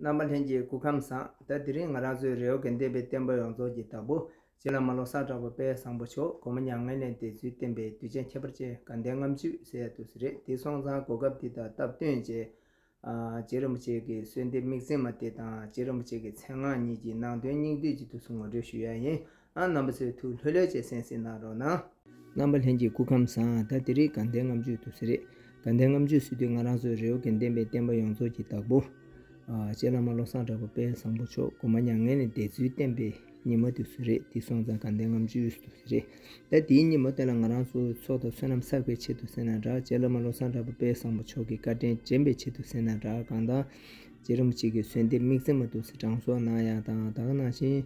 རྣམ་པ་ལྷན་ཅིག་སྐུ་ཁམས་བཟང། ད་དེ་རིང་ང་རང་ཚོའི་རེ་བ་དགེ་འདུན་པའི་བསྟན་པ་ཡོངས་རྫོགས་ཀྱི་བདག་པོ། རྗེ་བླ་མ་ལོ་གསར་གྲགས་པ་དཔལ་བཟང་པོ་མཆོག་དགོང་མོ་མྱ་ངན་ལས་འདས་ཚུལ་བསྟན་པའི་གདུལ་བྱ་ཁྱད་པར་ཅན་དགའ་ལྡན་ལྔའམ་བཅུ་ཟེར་ཡག་ཏུ་རེད་དེ་སོང་ཙང་གོ་སྐབས་འདི་དང་སྟབས་བསྟུན་རྗེ། རྗེ་རིན་པོ་ཆེ་གི་གསོལ་འདེབས་དམིགས་བརྩེ་མ་དེ་དང་རྗེ་རིན་པོ་ཆེ་གི་མཚན་སྔགས་གཉིས་ཀྱི་ནང་དོན་སྙིང་བསྡུས་ཀྱི་ཐུགས་སུ་ངོ་སྤྲོད་ཞུ་ཡ་ཡིན། རྣམ་པ་ཚོས་ཐུགས་ལྷོད་ལྷོད་བྱས་སེམས་སེམས་གནང་རོགས་གནང། རྣམ་པ་ལྷན་གྱི་སྐུ་ཁམས་བཟང་ད་དེ་རིགས་དགའ་ལྡན་ལྔ་མཇུག་ཏུ་ཟེར། དགའ་ལྡན་ལྔ་མཇུག་ཟེར་དུས་ང་རང་ཚོའི་རེ་བ་དགེ་ལྡན་པའི་བསྟན་པ་ཡོངས་རྫོགས་ཀྱི་བདག་པོ། རྗེ་བླ་མ་བློ་བཟང་གྲགས་པ་དཔལ་བཟང་པོ་མཆོག་སྒོ་མ་མྱ་ངན་ལས་འདས་ཚུལ་བསྟན་པའི་ཉི་མ་དུས་སུ་རེད་འདི་སོང་ཙང་དགའ་ལྡན་ལྔ་མཇུག་ཏུ་ཟེར། ད་དེའི་ཉིན་མོ་དེ་ལ་ང་རང་ཚོའི་ཚོགས་དང་བསོད་ནམས་བསགས་པའི་ཆེད་དུ་ཟེར་ན་འདྲ་རྗེ་བླ་མ་བློ་བཟང་གྲགས་པ་དཔལ་བཟང་པོ་མཆོག་གི་བཀའ་དྲིན་དྲན་པའི་ཆེད་དུ་ཟེར་ན་འདྲ་གང་དང། རྗེ་རིན་པོ་ཆེ་གི་གསོལ་འདེབས་དམིགས་བརྩེ་མ་དུ་སི་ཀྲང་སོགས་གནང་ཡག་དང་དག་གནང་ཞིང།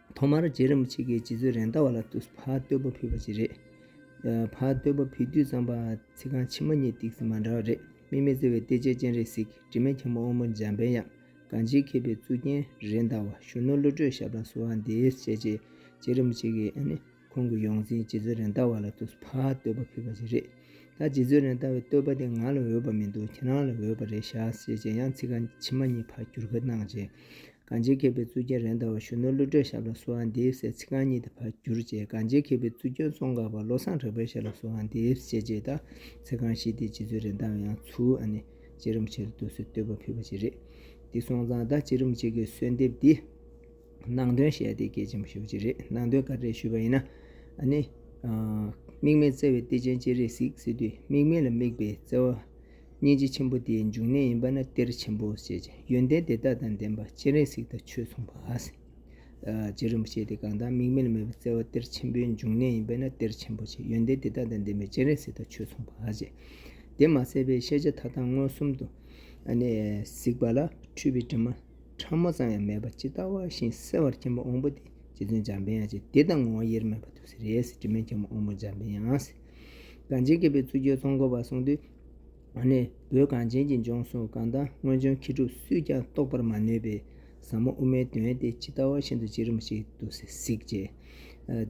ཐོག་མར་རྗེ་རིན་པོ་ཆེ་གིས་རྗེ་བཙུན་རེན་ཏཱ་བ་ལ་ཕ་བསྟོད་པོ་ཕུལ་བ་ཞིག་རེད། ཕ་བསྟོད་པོ་ཕུལ་དུས་ཙམ་པ་ཚིག་རྐང་ཕྱི་མ་གཉིས་ཏིག་ཟིན་མ་འདྲ་བ་རེད་སྨིན་མེད་བརྩེ་བའི་གཏེར་ཆེན་སྤྱན་རས་གཟིགས་དྲི་མེད་འཁྱམས་པོ་དབང་པོ་འཇམ་པའི་དབྱངས་གངས་ཅན་མཁས་པའི་གཙུག་རྒྱན་རེན་ཏཱ་བ་གཞོན་ནུ་བློ་གྲོས་ཞབས་དང་གསོལ་བ་འདེབས་བྱས་རྗེས་རྗེ་རིན་པོ་ཆེ་གིས། ཁོང་གི་ཡོངས་འཛིན་རྗེ་བཙུན་རེན་ཏཱ་བ་ལ་ཐུགས་ཕ་བསྟོད་པ་ཕུལ་བ་ཞིག་རེད། ད་རྗེ་བཙུན་རེན་ཏཱ་བའི་བསྟོད་པ་དེ་ང་ལ་འོས་པ་མི་འདུག་ཁྱེད་རང་ལ་འོས་པ་རེད་བཞག་ཟེར་རྗེས་ཡང་ཚིག་རྐང་ཕྱི་མ་གཉིས་ཕར་བསྒྱུར་ཁ་གནང་རྗེས། གངས་ཅན་མཁས་པའི་གཙུག་རྒྱན་རེན་ཏཱ་བ་གཞོན་ནུ་ཀླུ་སྒྲོལ་ཞབས་ལ་གསོལ་བ་འདེབས་ཟེར་ཚིག་རྐང་གཉིས་དེ་ཕར་བསྒྱུར་རྗེས་གངས་ཅན་མཁས་པའི་གཙུག་རྒྱན་ཙོང་ཁ་བ་བློ་བཟང་གྲགས་པའི་ཞབས་ལ་གསོལ་བ་འདེབས་ཟེར་རྗེས་ད་ཚིག་རྐང་བཞི་དེ་རྗེ་བཙུན་རེན་ཏཱ་བས་ཡང་ཚུར་ཨ་ནེ་རྗེ་རིན་པོ་ཆེ་ལ་བསྟོད་གསོལ་བསྟོད་པ་ཕུལ་བ་ཞིག་རེད། འདི་སོང་ཙང་ད་རྗེ་རིན་པོ་ཆེ་གི་གསོལ་འདེབས་འདི། ནང་དོན་བཤད་དེ་སྐད་ཆེན་པོ་ཤོད་ཀྱི་རེད་ནང་དོན་ག་རེ་ཞུས་པ་ཡིན་ན་ནི། དམིགས་མེད་བརྩེ་བའི་གཏེར་ཆེན་ཅི་རིགས་གཟིགས་ཟེར་དུས་དམིགས་མེད་ལ་དམིགས་པའི་བརྩེ་བ། སྙིང་རྗེ་ཆེན་པོ་དེའི་འབྱུང་གནས་ཡིན་པ་ན་གཏེར་ཆེན་པོ་ཞེས་བྱ་ཡོན་ཏན་དེ་དག་དང་ལྡན་པ་སྤྱན་རས་གཟིགས་དང་ཆོས་མཚུངས་པ། རྗེ་རིན་པོ་ཆེ་དེ་གང་དག་དམིགས་མེད་ལ་དམིགས་པའི་བརྩེ་བ་གཏེར་ཆེན་པོའི་འབྱུང་གནས་ཡིན་པས་ན་གཏེར་ཆེན་པོ་ཞེས་ཡོན་ཏན་དེ་དག་དང་ལྡན་པའི་སྤྱན་རས་གཟིགས་དང་ཆོས་མཚུངས་པ། དེ་མ་ཟད་པའི་ཤེས་བྱ་མཐའ་དག་མངོན་སུམ་དུ་གཟིགས་པ་ལ་འཁྲུལ་པའི་དྲི་མ། ཕྲ་མོ་ཙམ་ཡང་མེད་པ་ཇི་ལྟ་བ་བཞིན་གསལ་བར་མཁྱེན་པ་འོངས་པོ་དེ་རྗེ་བཙུན་འཇམ་དཔལ་ཡང་ཅི་བདེ་དང་ངོ་བོ་དབྱེར་མེད་པ་ཐུགས་སུ་རེ་ཟིན་དྲི་མེད་མཁྱེན་པ་འོངས་པོ་འཇམ་དཔལ་ཡང། གངས་ཅན་མཁས་པའི་གཙུག་རྒྱལ་ཚོགས་འཁོར་བར་གསུངས་དུས། འོ་ནི་བོད་གངས་ཅན་གྱི་ལྗོངས་སུ་གང་ལྟར་སྔོན་བྱོན་མཁས་གྲུབ་སུས་ཀྱང་རྟོགས་པར་མ་ནུས་པའི་ཟབ་མོ་དབུ་མའི་དོན་དེ་ཇི་ལྟ་བ་བཞིན་དུ་ཅི་རིམ་ཞིག་ཏུ་གཟིགས། ཅེས་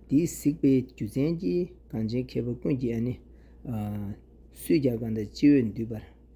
འདིའི་གཟིགས་པའི་རྒྱུ་མཚན་གྱིས་གངས་ཅན་མཁས་པ་ཀུན་གྱིས་འོ་ནི། སུས་ཀྱང་གང་ལྟར་ཅི་འོས་འདུས་པར།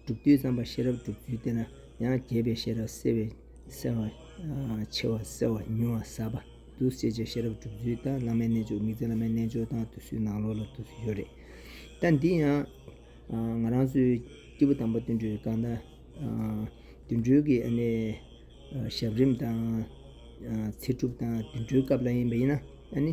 སྒྲུབ་བརྒྱུད་ཙམ་པ་ཤེས་རབ་སྒྲུབ་བརྒྱུད་དེ་ན་ཡང་རྒྱས་པའི་ཤེས་རབ་གསལ་བས་གསལ་བ། ཆེ་བ་གསལ་བ་ཉུང་བ་ཟབ་པ། འདུ་བྱེད་ཀྱི་ཤེས་རབ་སྒྲུབ་བརྒྱུད་དང་བླ་མའི་རྣལ་འབྱོར་མིག་འཛིན་བླ་མའི་རྣལ་འབྱོར་དང་དུ་སུའི་ནང་ལོགས་ལ་འདུ་བྱེད་ཡོད་རེད། ད་འདི་ཡང། ང་རང་ཚོའི་སྐྱེས་བུ་དམ་པ་དུད་འགྲོའི་སྐར་མདའ། དུད་འགྲོའི་གི་ཨ་ནི། ཞབས་རིམ་དང། ཚེ་སྒྲུབ་དང་དུད་འགྲོའི་སྐབས་ལ་ཡིན་པ་ཡིན་ན་ཨ་ནི།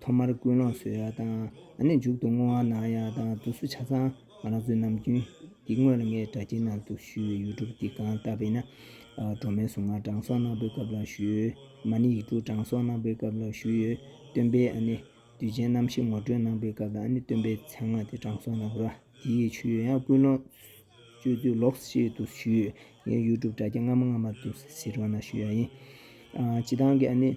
ཐོག་མར་ཀུན་སློང་བཟོད་ཡོད་དང་ནི་མཇུག་ཏུ་བསྔོ་བ་གནང་ཡོད་དང་དུ་སུ་ཆ་ཚང་ང་རང་ཚོའི་ནམ་རྒྱུན་གྱི་དངོས་ལ་ངའི་དྲ་རྒྱའི་ནང་དུ་ཞུས་ཡོད་ཡུལ་གྲུབ་འདི་གང་ལྟ་བས་ན་སྒྲོན་མེའི་གཟུངས་སྔགས་དྲང་སྲོང་གནང་པའི་སྐབས་ལ་ཞུས་ཡོད་མ་ནི་ཡིག་དྲུག་དྲང་སྲོང་གནང་པའི་སྐབས་ལ་ཞུས་ཡོད་སྟོན་པས་ཨ་ནི་དུས་ཆེན་རྣམ་བཞི་ངོ་སྤྲོད་གནང་པའི་སྐབས་ལ་ཨ་ནི་སྟོན་པའི་མཚན་སྔགས་དེ་དྲང་སྲོང་གནང་རོགས་དེ་ཡི་ཆུ་ཡོད་ཡང་ཀུན་སློང་བཅོས་དུས་ལོགས་ཤིག་ཏུ་ཞུས་ཡོད་ངའི་ཡུལ་གྲུབ་དྲ་རྒྱ་སྔ་མ་སྔ་མ་དུ་ཟིར་བ་ན་ཞུས་ཡོད་ཡིན་སྤྱི་བཏང་གི་ཨ་ནི།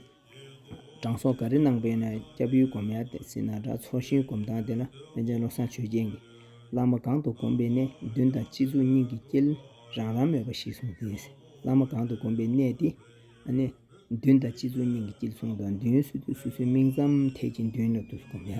གྲང་སོག་ག་རེ་གནང་པས་ན་སྐྱབས་ཡུལ་སྒོམ་ཡར་འདེད་སྲིད་ན་དགྲ་འཚོགས་ཤིང་སྒོམ་སྟངས་དེ་ན་དཔོན་ཆེན་བློ་བཟང་ཆོས་རྒྱན་གྱིས་བླ་མ་གང་དུ་སྒོམ་པའི་གནས་བདུན་དང་སྤྱི་གཙུག་སྙིང་གི་དཀྱིལ་རང་རང་མོས་པ་ཞིག་གསུངས་ཏེ། བླ་མ་གང་དུ་སྒོམ་པའི་གནས་དེ་ན་གནས་བདུན་དང་སྤྱི་གཙུག་སྙིང་གི་དཀྱིལ་གསུངས་དང་མདུན་ཡོན་སྲིད་དུ་སོ་སོའི་མིང་ཙམ་ཐད་ཀྱི་མདུན་ལ་བསྡུས་སུ་སྒོམ་ཡ།